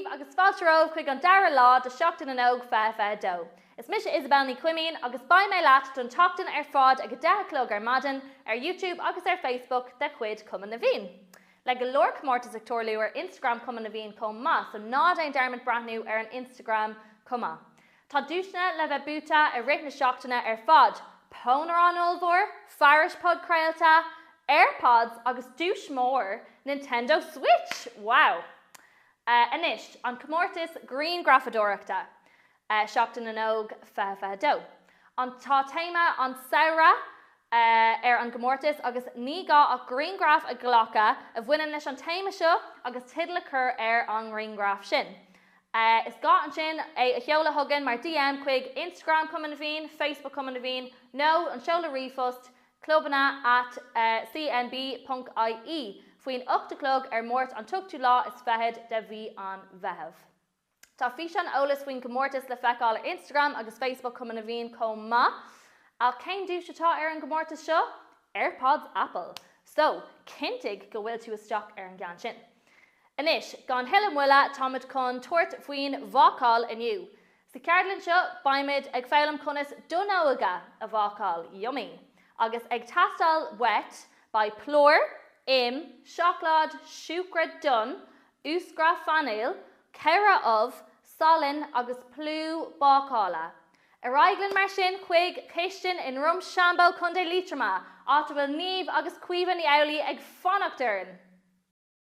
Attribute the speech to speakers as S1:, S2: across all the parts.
S1: Daoibh agus fáilte romhaibh chuig an dara lá de Sheachtain na nÓg 2022. Is mise Isabelle Ní Chuimín agus beidh mé leat don tseachtain ar fad ag a deich a chlog ar maidin ar Youtube agus ar Facebook de chuid Chumann na bhFiann. Le go leor comórtas ag tarlú ar Instagram Chumann na bhFiann chomh maith so ná déan dearmad breathnú ar an Instagram chomh maith. Tá duaiseanna le bheith buaite i rith na seachtaine ar fad, pónaireán ollmhór, fearais podchraolta, Airpods agus duais mhór Nintendo Switch! Wow! Anois, an comórtas grianghrafadóireachta. Seachtain na nÓg 2022. An Tá téama an tsamhraidh ar an gcomórtas agus ní gá ach grianghraf a ghlacadh a bhaineann leis an téama seo agus teideal a chur ar an ngrianghraf sin. Is gá ansin é a sheoladh chugainn mar DM chuig Instagram Cumann na bhFiann, Facebook Cumann na bhFiann nó an seoladh ríomhphost clubanna at cnb ponc ie faoin ocht a chlog ar Máirt an t-ochtú lá is fichead de mhí an Mheitheamh. Tá físeán eolas faoin gcomórtas le feiceáil ar Instagram agus Facebook Cumann na bhFiann chomh maith. Ach cén duais atá ar an gcomórtas seo? Airpods Apple! So, cinntigh go bhfuil tú isteach ar an gceann sin. Anois, gan thuilleadh moille, táimid chun tabhairt faoin bhácáil inniu. Sa cheardlann seo, beimid ag foghlaim conas donnóga a bhácáil, yummy! agus ag teastáil uait beidh plúr, im, seacláid, siúcra donn, úscra fanaile, ceithre ubh, salann agus plúr bácála. Ar aghaidh linn mar sin chuig cistin i nDroim Seanbhó, Co. Liatroma, áit a bhfuil Niamh agus Caoimhe Ní Amhlaidh ag fanacht orainn!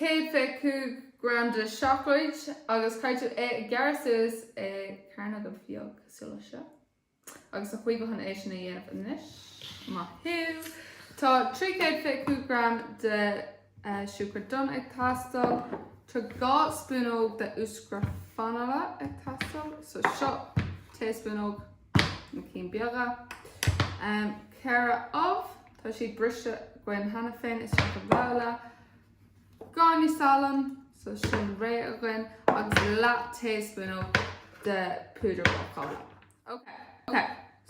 S2: 125 gram de seacláid agus caithfidh tú é a ghearradh suas i gcearnóga beaga cosúil le seo agus tá Caoimhe chun é sin a dhéanamh anois. Maith thú! Tá 325 gram de siúcra donn ag teastáil. Tá 2 spúnóg de úscra fanaile ag teastáil so seo taespúnóg na cinn beaga. 4 ubh, tá siad briste againn cheana féin isteach i mbabhla. Gráinnín salainn so sin réidh againn agus leath taespúnóg de púdar bácála. Ok. Ok.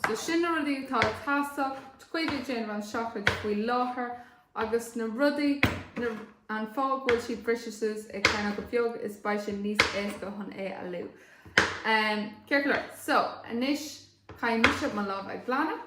S2: So sin na rudaí atá ag teastáil Caoimhe ag déanamh an seacláid faoi láthair agus na rudaí na an fáth go bhfuil siad briste suas i gcearnóga beaga is beidh sé níos éasca chun é a leá. Um, ceart go leor. So, anois caithfidh mise mo lámha a ghlanadh.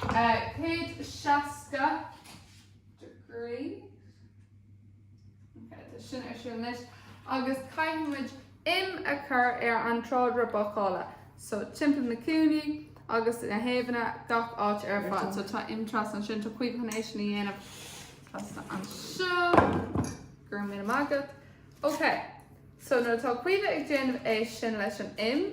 S2: 160 degree Ok, tá sin ar siúl anois agus caithfidh muid im a chur ar an tráidire bácála. So, timpeall na cúinní agus na taobhanna, gach áit ar fad. So, tá im trasna ansin, tá Caoimhe chun é sin a dhéanamh trasna anseo. Go raibh míle maith agat. Ok, so nuair atá Caoimhe ag déanamh é sin leis an im,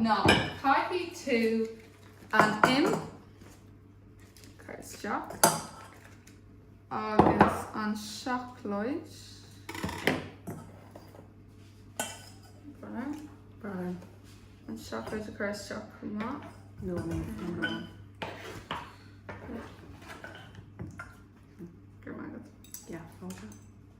S2: now caithfidh tú an im a chur isteach agus an seacláid
S3: brown
S2: an seacláid a chur isteach chomh maith. No, no,
S3: no, no.
S2: Go raibh maith agat. Yeah, okay.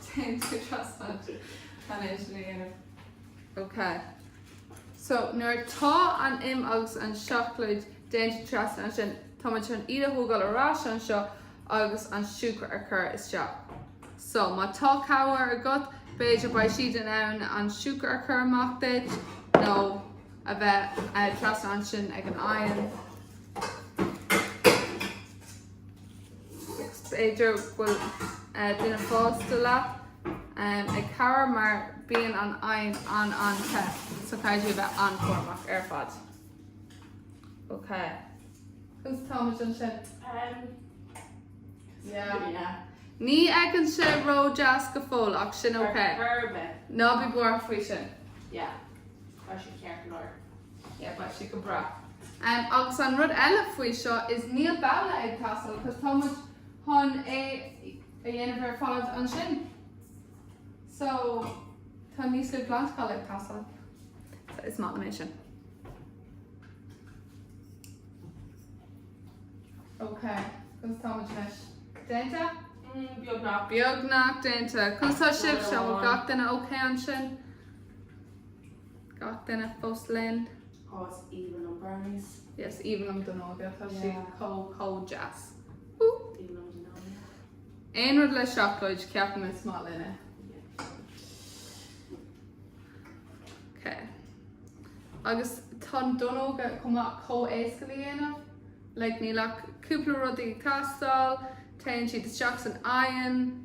S2: So téann tú trasna ansin chun é sin a dhéanamh. Ok. So, nuair atá an im agus an seacláid déanta trasna ansin, tá muid chun iad a thógáil ar ais anseo agus an siúcra a chur isteach. So, má tá cabhair agat, b'fhéidir beidh siad in ann an siúcra a chur amach duit nó a bheith trasna ansin ag an oigheann. B'fhéidir go bhfuil duine fásta leat ag cabhrú mar bíonn an oigheann an-an-te so caithfidh tú a bheith an-chúramach ar fad. Ok. Conas atáimid
S3: ansin? Yeah. Ní
S2: fhéachann sé ró-deas go fóill ach sin ok. Ná bí buartha faoi sin.
S3: Yeah. Tá
S2: sé
S3: ceart go leor.
S2: Yeah, beidh sé go breá. Agus an rud eile faoi seo is níl babhla ag teastáil cos tá muid chun é a dhéanamh ar fad ansin. So tá níos lú glantacháin ag teastáil. So is maith liom é sin. Ok, conas atá muid anois? Déanta? Mm, beagnach. Beagnach déanta. Conas atá sibhse? Bhfuil gach duine ok ansin? gach duine fós linn. Oh is aoibhinn
S3: liom brownies. Yes, aoibhinn liom
S2: donnóga, tá siad Yeah. chomh, chomh deas. Aoibhinn liom
S3: donnóga. Aon rud
S2: le seacláid, ceapaim is maith linne. Okay. Agus tá donnóga chomh maith chomh éasca le dhéanamh, like níl ach cúpla rudaí ag teastáil, téann siad isteach san oigheann,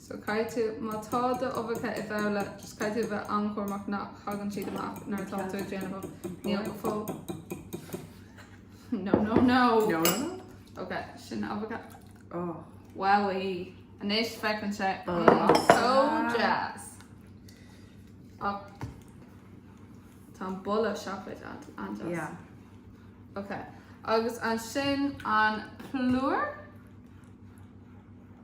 S2: So caithfidh tú, má tá do uibheacha i bhabhla, just caithfidh tú a bheith an-chúramach nach thagann siad amach nuair atá tú ag déanamh níl go fóill. No, no, no. No, no, no.
S4: Ok,
S2: sin uibheacha. Oh.
S4: Wowie.
S2: Anois féachann sé. Oh. Mm, so deas. Oh. Tá an boladh seacláid an-deas. Yeah.
S4: Ok.
S2: Agus an sin an plúr?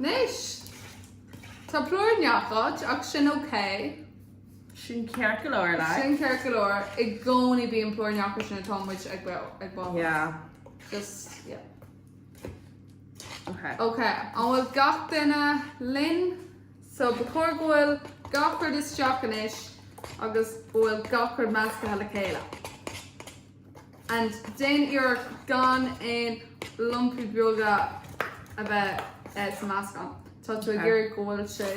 S2: Anois, tá plúr i ngach áit ach sin ok. Sin
S4: ceart go leor, like. Sin ceart go leor, i
S2: gcónaí bíonn plúr in gach áit sin atá muid ag bácáil. Yeah. Just,
S4: yeah. Ok. Ok, an
S2: bhfuil gach duine linn? So, ba chóir go bhfuil gach rud isteach anois agus bhfuil gach rud measctha le chéile. and déan iarracht gan aon lumpaí beaga a bheith sa meascán. Tá tú ag iarraidh go bhfuil sé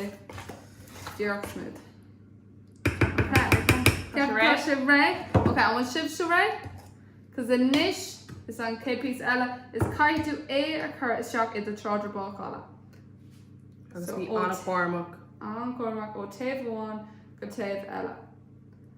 S2: díreach smooth. Tá sé réidh? Tá sé réidh. Ok, an bhfuil sibhse réidh? Cos anois is an chéad píosa eile is caithfidh tú é a chur isteach i do tráidire bácála. Agus
S4: bí an-chúramach. An-chúramach
S2: ó taobh amháin go taobh eile.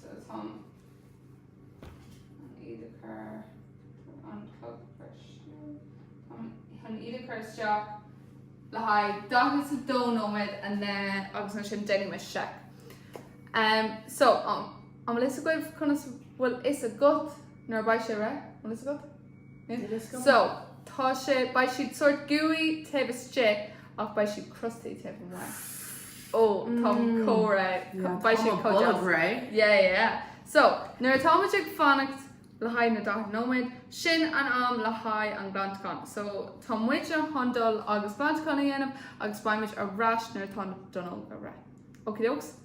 S2: So táim chun iad a chur ar an chlog breise. Chun iad a chur isteach le haghaidh 42 nóiméad and then agus ansin déanfaidh mé seic. Em, so, an, an bhfuil 'fhios agaibh conas bhfuil 'fhios agat nuair a beidh sé réidh? An bhfuil 'fhios agat?
S4: So, tá
S2: sé, beidh siad sórt gooey taobh istigh ach beidh siad crusty taobh amuigh. Ó, tá córa, beidh siad córa. Tá bra. Yeah,
S4: yeah. So,
S2: nuair atá muid ag fanacht le haghaidh na 40 nóiméad, sin an am le haghaidh an glantachán. So, tá muid an chun dul agus glantachán a dhéanamh agus beidh muid ar ais nuair atá na donnóga réidh. Okie dokes?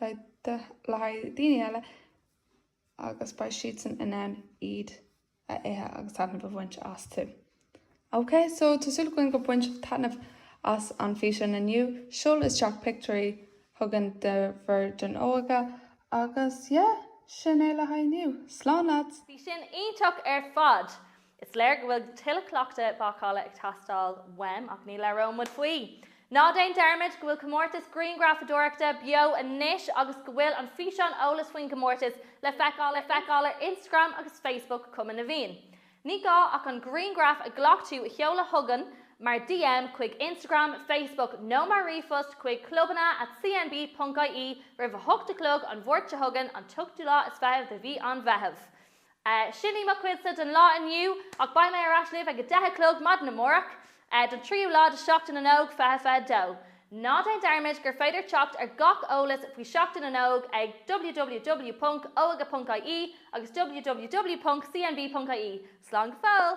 S2: le haghaidh daoine eile agus beidh siadsan in ann iad a ithe agus taitneamh a bhaint astu. Ok, so tá súil againn go baint sibh taitneamh as an físeán inniu. Seol isteach pictiúirí chugainn de bhur donnóga agus yeah, sin é le haghaidh inniu. Slán leaids! Bhí sin iontach
S1: ar fad! Is léir go bhfuil tuilleadh cleachtadh bácála ag teastáil uaim, ach ní labhróidh muid faoi! Ná déan dearmaid go bhfuil comórtas grianghrafadóireachta beo anois agus go bhfuil an físeán eolas faoin gcomórtas le feiceáil le feiceáil ar Instagram agus Facebook Cumann na bhFiann. Ní gá ach an grianghraf a ghlac tú a sheoladh chugainn mar DM chuig Instagram, Facebook nó mar ríomhphost chuig clubanna at cnb.ie roimh a hocht a chlog an Mháirt seo chugainn, an t-ochtú lá is fiche de mhí an Mheithimh. Sin í mo chuidse don lá inniu, ach beidh mé ar ais libh ag a deich a chlog maidin amárach don tríú lá de Sheachtain na nÓg 2022. Ná déan dearmad gur féidir teacht ar gach eolas faoi Sheachtain na nÓg ag www.oige.ie agus www.cnb.ie. Slán go fóill!